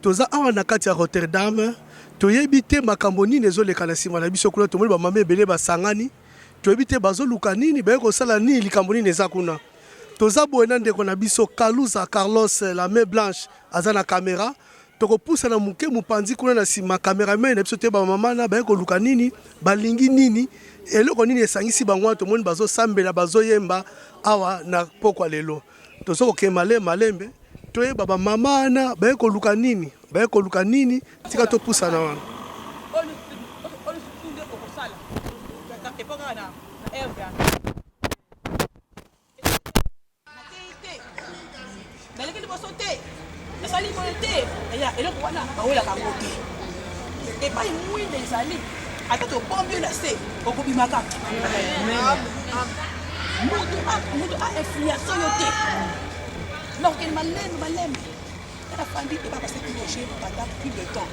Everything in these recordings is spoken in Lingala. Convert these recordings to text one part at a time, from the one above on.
Toza awa na kati ya Rotterdam, toyebi te makambo nini ezoleka na sima na biso kuna, tomoni ba mama ebele basangani, toyebi te bazoluka nini, baye kosala nini, likambo nini eza kuna. Toza boye na ndeko na biso Kaluza Carlos, la main blanche, aza na camera. Tokopusana moke mopanzi kuna na sima, cameraman na biso te, ba mama na baye koluka nini, balingi nini, eloko nini esangisi bango wana, tomoni bazosambela, bazoyemba awa na pokwa lelo. Toza kokende malembe malembe toyeba ba mama wana baye koluka nini baye koluka nini tika topusana wana Nasali boye te ya eloko wana bawelaka yango te epai mwinda ezali ata tobombi yo na se okobimaka moto ainfluence yo te nakokende malembe malembe tala fandi ebakasaki loge banda plus de temps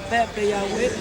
Pepe Yahweh,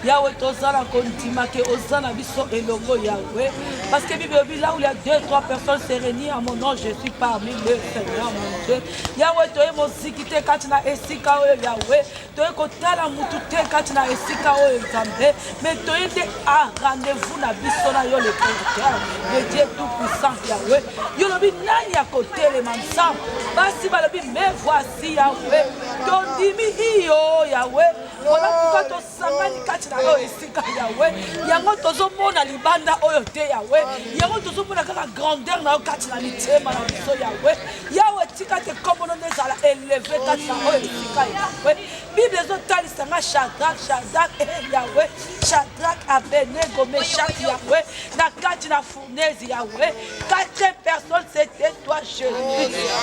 Yahweh toza na kondima ke oza na biso elongo Yahweh, parce que Bible elobi là où il y a deux trois personnes se réunir à mon nom, je suis parmi le Seigneur mon Dieu. Yahweh toye moziki te kati na esika oyo Yahweh, toye kotala mutu te kati na esika oyo Nzambe, mais toye nde a rendez-vous na biso na yo le Créateur, le Dieu tout puissant Yahweh. Yolobi nani akotelema Nzambe? Basi balobi mais voici Merci Yahweh, tondimi iyo Yahweh, mpona pourkoi tosangani kati na oyo esika Yahweh, yango tozomona libanda oyo te Yahweh, yango tozomona kaka grandeur na yo kati na mitema na biso Yahweh. Yahweh tika te nkombo no nde ezala eleve kati na oyo esika Yahweh. Bible ezotalisa nga Shadrach, Shadrach, eh Yahweh, Shadrach, Abednego, Meshach Yahweh, na kati na Nezi Yahweh, quatrième personne c'était toi Jésus.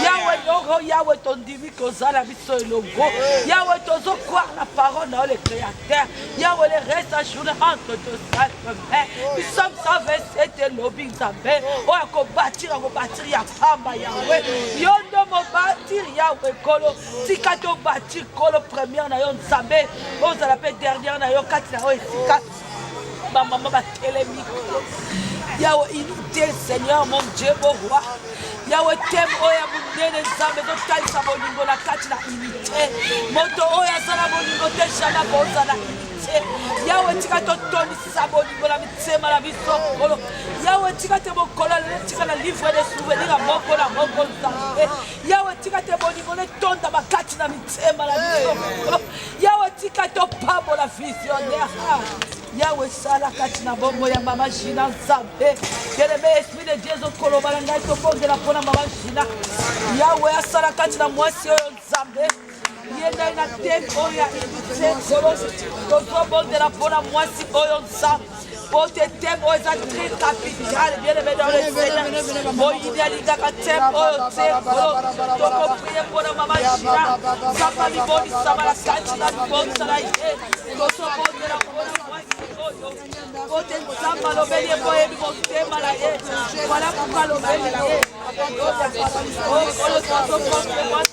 Yahweh Yoro, Yahweh ton dimi kozala biso elongo. Yahweh tozo croire la parole dans le créateur. Yahweh le reste à journée entre deux salles de main. Nous sommes 127 et lobby Nzambe. Oh à combattre, à combattre ya pamba Yahweh. Yondo mo bâtir Yahweh kolo. Tika to bâtir kolo première na yo Nzambe. Ozala pe dernière na yo kati na yo efika. bamama batelemi yawe inite seigneur mon dieu boroi yawe teme oyo ya monene nzambe ezotalisa bolingo na kati na inite moto oyo aza na bolingo te jamai akozala inite yawe tika totondisa bolingo na mitema na biso kolo yawe tika te mokolo lelo tika na livre de souvenir ya moko na moko nzambe yawe tika te bolingo netonda makati na mitema na biso kolo Yawe tika topambola visionnaire ah, Yawe sala kati na bongo ya mama Gina Nzambe kelebe esprit de Dieu ezokoloba na ngai tobondela mpo na mama Gina Yawe asala kati na mwasi oyo Nzambe ye ndai na teme oyo ya unité tozobondela mpo na mwasi oyo Nzambe Pote temp oyo eza très capital bien aimé dans le Seigneur moyini alingaka temp oyo te tokoprie mpona mama jina nzambe amibongisama na kati na libongisa na ye tosobondela mpona mwasi oyo pote nzambe alobeli ye mpo oyebi motema na ye wala kuka alobeli na ye oyo tozokote mwasi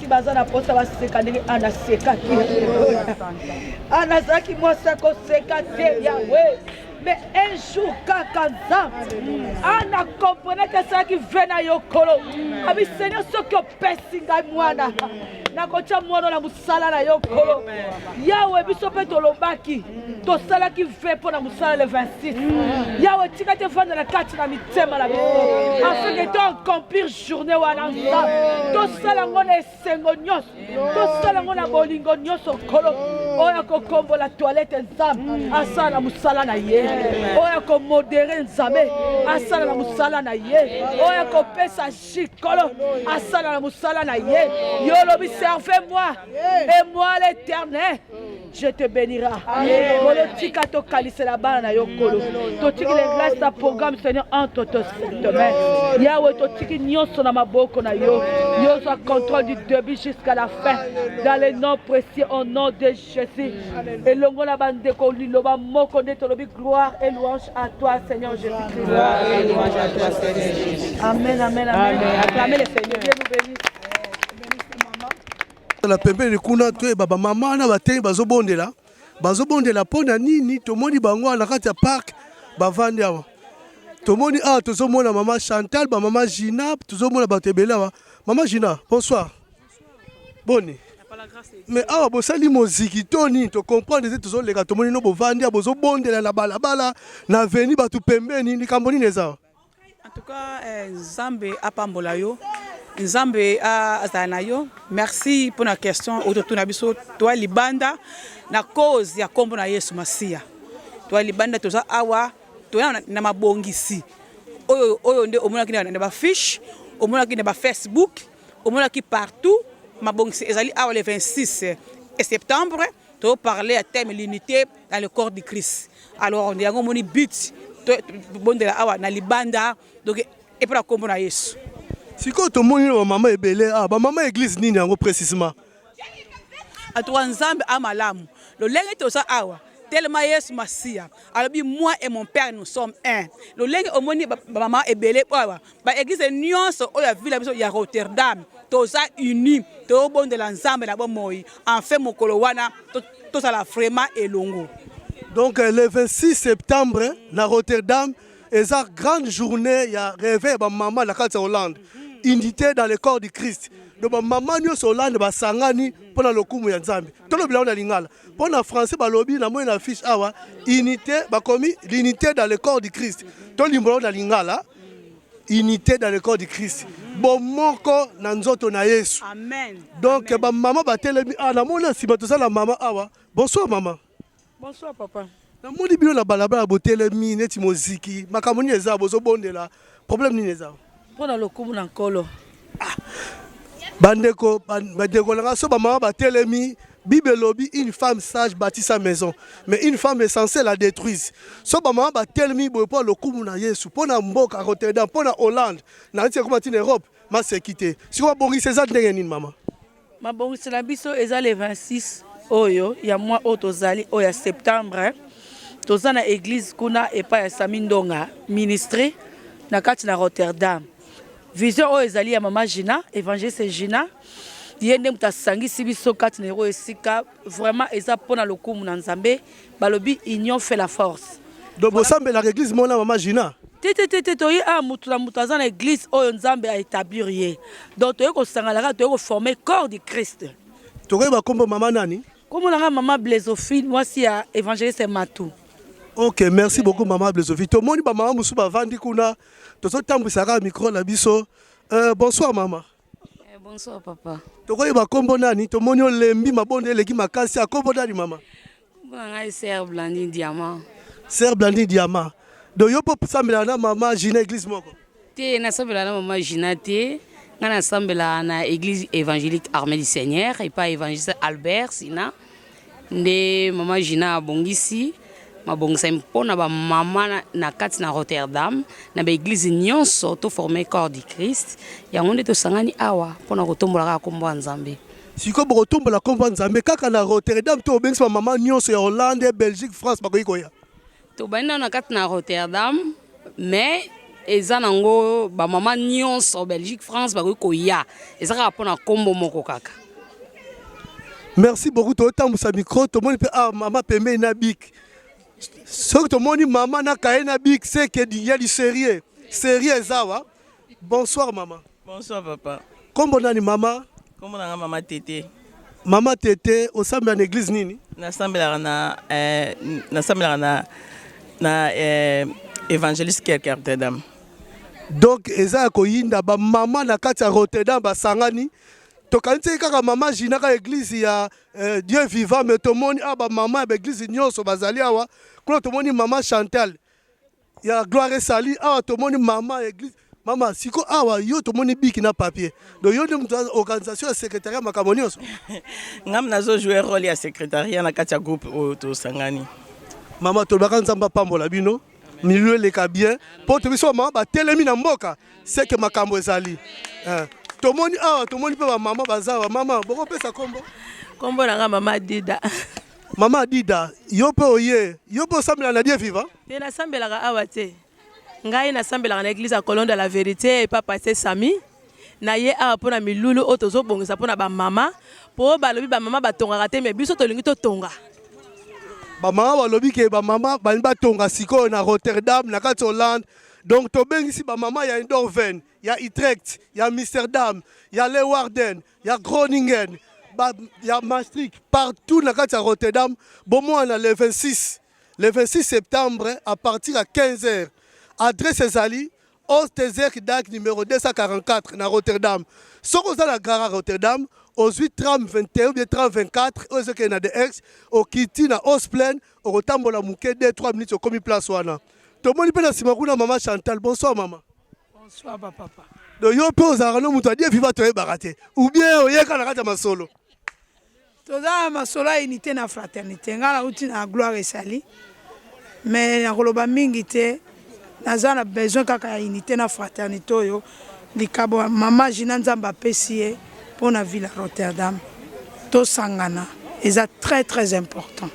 baza na posa baseka ndenge ana sekaki ana azalaki mwasi akoseka te yawe mais un jour kaka nzambe ana komprenaki asalaki ve na yo kolo abi seigneur soki opesi ngai mwana nakotya mwana na mosala na yo kolo yawe biso mpe tolobaki tosalaki ve mpo na mosala le 26 yawe tika te efandela kati na mitema na biso afin que to accomplir journée wana nzambe tosala yango na esengo nyonso tosala yango na bolingo nyonso nkolo oyo akokombola toilette nzambe asala na mosala na ye oyo akomodere nzambe asala na mosala na ye oyo akopesa jikolo asala na mosala na ye yo olobi serve moi et moi l'éternel Je te bénira. Kolo tika to kalisela bana na yo kolo. To tiki le reste ya programme Seigneur entre tes mains. Yahweh to tiki nyonso na maboko na yo. Yo zwa contrôle du début jusqu'à la fin. Dans le nom précieux au nom de Jésus. Elongo na bandeko liloba moko nde tolobi gloire et louange à toi Seigneur Jésus-Christ. Gloire et louange à toi Seigneur Jésus. Amen, amen, amen. amen. Acclamez le Seigneur. Dieu nous bénisse. na pembeni kuna toyeba bamama wana batei bazobondela bazobondela mpo na nini tomoni bango wana na kati ya parke bavandi awa tomoni awa tozomona mama chantal bamama gina tozomona bato ebele awa mama gina bonsoir boni mais awa bosali moziki to nini tocomprendre ete tozoleka tomoni no bovandi awa bozobondela na balabala na veni bato pembeni likambo nini eza En tout cas, eh, Nzambe apambola yo. Nzambe azala na yo. Merci pour la question ototuna biso toi libanda na cause ya kombo na Yesu Masiya. Toi libanda toza awa toya na mabongisi oyo oyo nde omonaki na ba fiche, omonaki na ba Facebook, omonaki partout mabongisi ezali awa le 26 septembre to parler à thème l'unité dans le corps du Christ. Alors yango omoni but bondela awa na libanda donc epa na kombo na Yesu. Sikoyo tomoni na bamama ebele ah, bamama eglise nini yango precisement? Atuka Nzambe a malamu lolenge toza awa tellement Yesu Masiya alobi moi et mon père nous sommes un. Lolenge omoni bamama ebele awa Ba eglise nionso oyo ya ville na biso ya Rotterdam toza uni tobondela Nzambe na bomoi enfin mokolo wana tozala vraiment elongo. Donc euh, le 26 septembre na Rotterdam eza grande journée ya reve ya bamama na kati ya Hollande unité dans le corps du Christ donc bamama nyonso Hollande basangani mpo na lokumu ya Nzambe tolobela yango na lingala mpo na français balobi na moi na fiche awa unité bakomi l'unité dans le corps du Christ tolimbola yango na lingala unité dans le corps du Christ bomoko na nzoto na Yesu amen donc ba maman batelemi ah namoni nsima toza na mama awa bonsoir mama bonsoir papa namoni bino na balabala botelemi neti moziki makambo nini eza bozobondela problème nini eza mpo na lokumu na nkolo Ah, bandeko bandeko na ngai so bamama batelemi bible elobi une femme sage bâtit sa maison mais une femme essentielle la détruise so bamama batelemi boye mpo lokumu na yesu mpo na mboka rotterdam mpo na hollande na neti ekoma ntina europe maseki te sikoyo babongisa eza ndenge nini mama Mabongisi na biso eza le 26 oyo ya mois oyo tozali oyo ya septembre toza na eglise kuna epai ya Sami Ndonga ministre na kati na Rotterdam vision oyo ezali ya mama Gina evangeliste Gina ye nde moto asangisi biso kati na yango esika vraiment eza mpona lokumu na Nzambe Balobi union fait la force. Donc bosambelaka eglise mona mama Gina? te te te te toye awa moto na moto aza na eglise oyo nzambe a établir ye donc toye kosangana kaka toye koforme corps du christ tokoyeba nkombo mama nani nkombo na ngai mama blesofine mwasi ya évangéliste matu ok merci beaucoup mama blesofine tomoni bamama mosusu bavandi kuna tozotambwisa kaka micro na biso uh, bonsoir mama Eh, bonsoir papa. Tokoyeba kombo nani? Tomoni olembi mabonde eleki makasi. Akombo nani mama? Kombo na ngai Sœur Blandine Diamant. Sœur Blandine Diamant. Donc yo po sambela na mama Gina église moko? Te na sambela na mama Gina te. Nga na sambela na église évangélique Armée du Seigneur et pas évangéliste Albert Sina. Nde mama Gina abongisi mabongisami mpo na bamama na kati na Rotterdam, na baeglize nyonso to forme corps du Christ. Yango nde tosangani awa mpo na kotombola kaka nkombo ya Nzambe. Sikoyo bokotombola nkombo ya Nzambe kaka na Rotterdam to bobengisi bamama nyonso ya Hollande, Belgique, France bakoki koya? Tobandi nano na kati na Rotterdam mais eza nango ba mama nyonso Belgique France bakoki koya eza kaka mpo na nkombo moko kaka. Merci beaucoup totambusa micro tomoni mpe awa ah, mama pembeni na bik soki tomoni mama na kaye na bik seke ya liserieux serieux eza awa Bonsoir maman. Bonsoir papa. Kombo nani mama? Kombo nanga mama Tete. Mama Tete, osambela na église nini? Nasambelaka na eh, nasambelaka na na eh, évangéliste Kerk Rotterdam. Donc eza ya koyinda ba mama na kati ya Rotterdam basangani tokanisi kaka mama Gina ka église ya eh, Dieu vivant mais tomoni ah ba mama ya ba église nyonso bazali awa kuna tomoni mama Chantal ya gloire esali awa tomoni mama ya eglise mama siko awa yo tomoni biki na papier donc yo nde moto ya organisation ya secrétariat makambo nyonso ngam nazo jouer role ya secrétariat na kati ya groupe oyo tosangani mama tolobaka nzambe apambola bino milieu eleka bien mpo tobi so bamama batelemi na mboka seke makambo ezali eh, tomoni awa tomoni mpe bamama baza bamama bokopesa nkombo nkombo na nga mama dida Mama Adida, yo mpe oye, yo mpe osambela na Die Viva? Te, nasambelaka awa te. Ngai nasambelaka na eglise ya Colon de la Verite epa Pasteur Sami. Na ye awa mpo na milulu oyo tozobongisa mpo na bamama, mpo balobi bamama batongaka te, me biso tolingi totonga. Bamama balobi ke bamama balingi batonga sikoyo na Rotterdam, na kati Hollande. Donc tobengisi bamama ya Eindhoven, ya Utrecht, ya Amsterdam, ya Leeuwarden, ya Groningen, ba, ya Maastricht, partout na kati ya Rotterdam, bomwana le 26 le 26 septembre à partir ya 15 heures. Adresse ezali Oostezek dak numéro 244 na Rotterdam. Soki oza na gara Rotterdam, ozwi tram 21 ou bien tram 24 oyo ezokende na de ex okiti na Osplen, okotambola moke 2 3 minutes okomi place wana. Tomoni mpe na nsima kuna mama Chantal. Bonsoir mama. Bonsoir ba papa. Do yo pe ozalaka no moto adie viva toyebaka te ou bien oyeka na kati ya masolo. Toza na masolo ya unité na fraternité. Nga nauti na gloire esali. Mais nakoloba mingi te. Naza na besoin kaka ya unité na fraternité oyo likabo ya mama Gina Nzambe apesi ye mpo na ville Rotterdam. Tosangana eza très très important.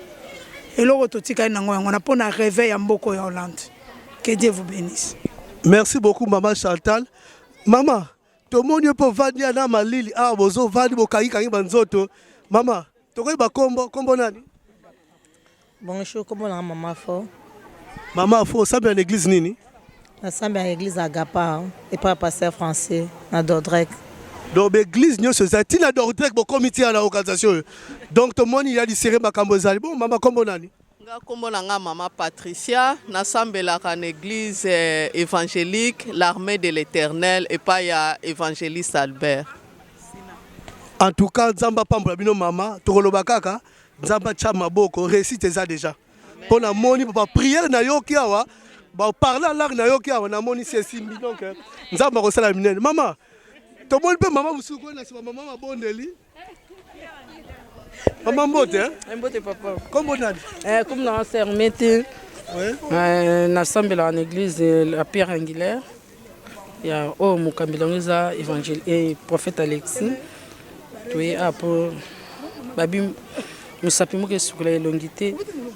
Eloko totikali nango yango na mpo na réveil ya mboko ya Hollande. Que Dieu vous bénisse. Merci beaucoup maman Chantal. Maman, tomoni yo mpo vandi ya na malili awa bozo vandi bokangikangi banzoto. Mama, tokoyi bakombo, kombo nani? Bonjour, kombo nanga mama fo. Mama fo, osambela na eglise nini? Nasambela na eglise Agapa, epai ya pasteur français na Dordrecht. donc baeglise nyonso ezali ntina dordrek bokomi tia na organisation oyo donc tomoni ya lisere makambo ezali bon mama nkombo nani Nga kombo na nga maman Patricia na sambelaka na eglise evangelique l'armee de l'eternel epai ya evangeliste Albert. En tout cas nzambe apambola bino mama tokoloba kaka nzambe atya maboko réussite eza deja mpo namoni papa priere nayoki awa baparle alangue nayoki awa namoni si esimbi donc nzambe akosala minene mama tomoni mpe mama mosusu koyena nsima mama mabondeli Maman Mbote, hein? Eh, Mbote papa. Comment nani? Eh, comme dans Sermete. Ouais. Euh, na sambela en église euh, la Pierre Angulaire. Ya oh mokambi lango eza évangile et eh, prophète Alexis. Toye a ah, po babi mosapi moko esukola elongi te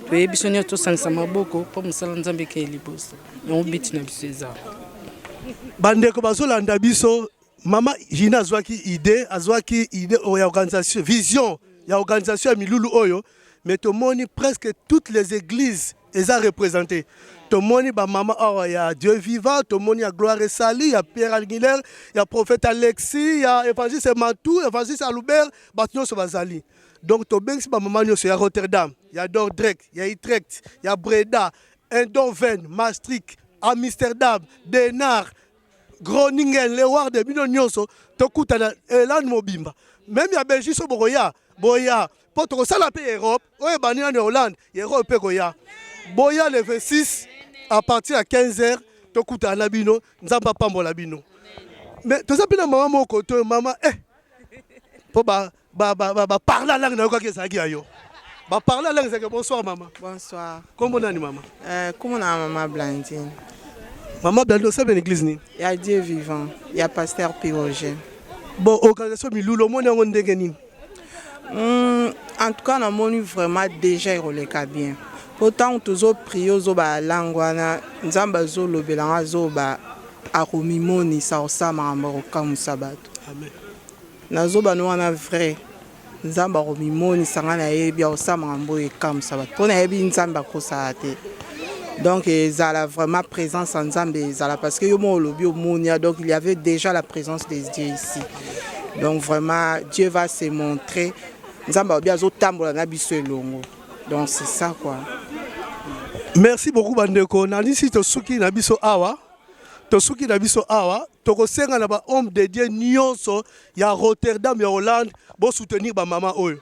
toyebi biso nyonso tosangisa maboko mpo mosala nzambe ekei liboso yango biti na biso eza bandeko bazolanda biso Mama Gina azwaki idee, azwaki idee oyo ya organisation, vision ya organisation ya milulu oyo, mais tomoni presque toutes les églises eza represente tomoni bamama awa ya dieu vivant tomoni ya gloire esali ya pierre alguilaire ya prophète alexis ya évangiste matou évangiste alubert bato nyonso bazali donc tobengisi bamama nyonso ya rotterdam ya dordrek ya utrecht ya breda endoven maastricht amsterdam denar Groningen, Leeuwarden, bino nyonso tokutana Irlande mobimba, meme ya Belgique so bokoya boya mpo tokosala mpe Europe oyo ebandi nano ya Hollande ya Europe mpe koya boya le 26 à partir ya 15 heures tokutana na bino, Nzambe apambola bino. Mais toza mpe na mama moko to mama eh mpo ba Ba ba ba, ba parler langue nayokaki ezalaki ya yo. Ba parler langue ezalaki bonsoir mama. Bonsoir. Kombo nani mama? Euh, kombo na mama Blandine. Mama Blandine osabe na église nini? Ya Dieu vivant, ya pasteur Piroger. Bon, organisation milulo moni yango ndenge nini? Hmm, en tout cas namoni vraiment déjà ekoleka bien mpo ntango tozoprie ozoba ya langue wana nzambe azolobela ngo azoba akomimonisa kosala makambo akokamwisa bato amen Na zoba no wana vrai nzambe ako mimonisa nga na yebi ako sala makambo oyo ekamusa batu pona yebi nzambe akosaka te donc ezala vraiment presence ya nzambe ezala parce que yo moko olobi omoni ya donc il y avait dejà la presence des dieux ici donc vraiment dieu va se montrer nzambe alobi azo tambola na biso elongo donc c'est ça quoi merci beaucoup bandeko nalisi tosuki na biso awa Tosuki na biso awa, tokosenga na ba hommes de Dieu nionso ya Rotterdam ya Hollande bo soutenir ba mama oyo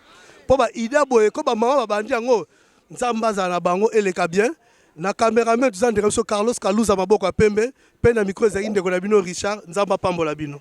po ba idee boye ko ba mama babandi yango Nzambe azala na bango eleka bien. Na cameraman toza ndeko na biso Carlos Kaluza maboko ya pembe pe na micro ezalaki ndeko na bino Richard Nzambe apambola bino.